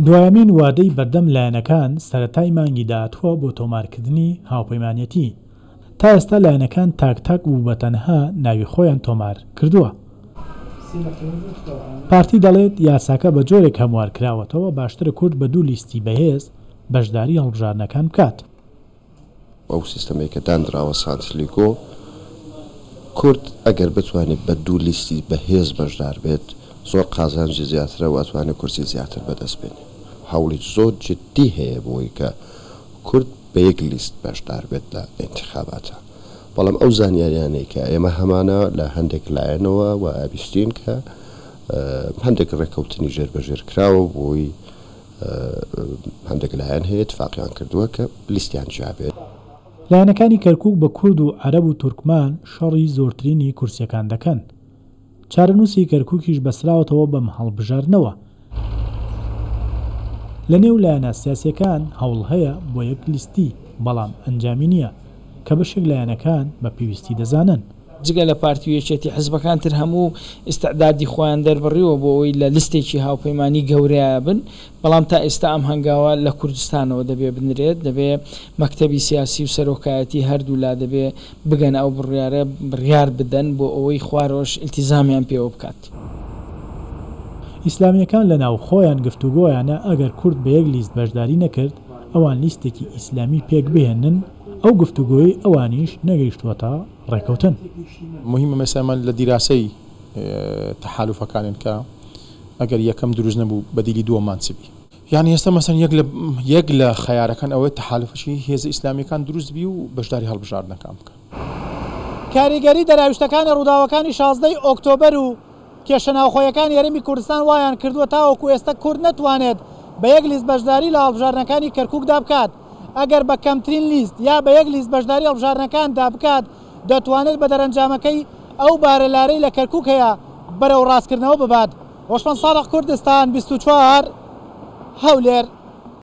دوایەمین وادەی بەردەم لایەنەکان سەرەتای مانگی داهاتووە بۆ تۆمارکردنی هاوپەیمانێتی، تا ئێستا لایەنەکان تاک تاک و بەتەنها ناوی خۆیان تۆمار کردووە. پارتی دەڵێت، یاساکە بە جۆرێک هەموارکراوەتەوە، باشترە کورد بە دوو لیستی بەهێز بەشداری هەڵبژاردنەکان بکات. ئەو سیستەمەی کە داندراوە سانتلیگۆ کورد ئەگەر بتوانێت بە دوو لیستی بەهێز بەشدار بێت زۆر قازانجی زیاترە و ئەتوانێت کورسی زیاتر بەدەست بێنێ هەوڵی زۆر جدی هەیە بۆی کە کورد بە یەک لیست بەشدار بێت لە ئینتیخاباتا بەڵام ئەو زانیاریانەی کە ئێمە هەمانە لە هەندێک لایەنەوە وابیستین کە هەندێک ڕێکەوتنی ژێر بەژێر کراوە بۆی هەندێک لایەن هەیە ئیتفاقیان کردووە کە لیستیان جیا بێت. لایەنەکانی کەرکوک بە کورد و عەرەب و تورکمان شەڕی زۆرترینی کورسیەکان دەکەن. چارەنوسی کەرکوکیش بەستراوەتەوە بەم هەڵبژاردنەوە. لە نێو لایەنە سیاسیەکان هەوڵ هەیە بۆ یەک لیستی بەڵام ئەنجامی نیە کە بەشێک لایەنەکان بە پێویستی دەزانن. جگە لە پارتی و یەکێتی حزبەکان تر هەموو ئیستعدادی خۆیان دەربڕیوە بۆ ئەوەی لە لستێکی هاوپەیمانی گەورەیا بن، بەڵام تا ئیستا ئەم هەنگاوە لە کوردستانەوە دەبێ بنرێت، دەبێ مەکتەبی سیاسی و سەرۆکایەتی هەردوو لا دەبێ بگەنە ئەو بڕیارە بڕیار بدەن بۆ ئەوەی خوارەوەش ئیلتیزامیان پێوە بکات. ئیسلامیەکان لە ناو خۆیان گفتوگۆیانە ئەگەر کورد بە یەک لیست بەشداری نەکرد ئەوان لیستێکی ئیسلامی پێک بهێنن، ئەو گفتوگۆی ئەوانیش نەگەیشتووەتە ڕێکەوتن. موهیمە مەسەلە من لە دیراسەی تەحالوفەکانین کە ئەگەر یەکەم دروست نەبوو بەدیلی دووەممان چ بی؟ یانی ئێستا مەسەلەن یەک لە یەک لە خەیارەکان ئەوەیە تەحالوفەکی هێزە ئیسلامیەکان دروست بی و بەشداری هەڵبژاردنەکان بکەن. کاریگەری دەراویشتەکانی ڕووداوەکانی شازدە ی ئۆکتۆبەر و کێشە ناوخۆیەکانی هەرێمی کوردستان وایان کردووە تاوەکو ئێستا کورد نەتوانێت بە یەک لیست بەشداری لە هەڵبژاردنەکانی کەرکوکدا بکات. ئەگەر بە کەمترین لیست یا بە یەک لیست بەشداری هەڵبژاردنەکاندا بکات، دەتوانێت بە دەرەنجامەکەی ئەو بارە لارەی لە کەرکووک هەیە بەرەو ڕاستکردنەوە ببات. هۆشمەند سادق کوردستان بیست و چوار هەولێر.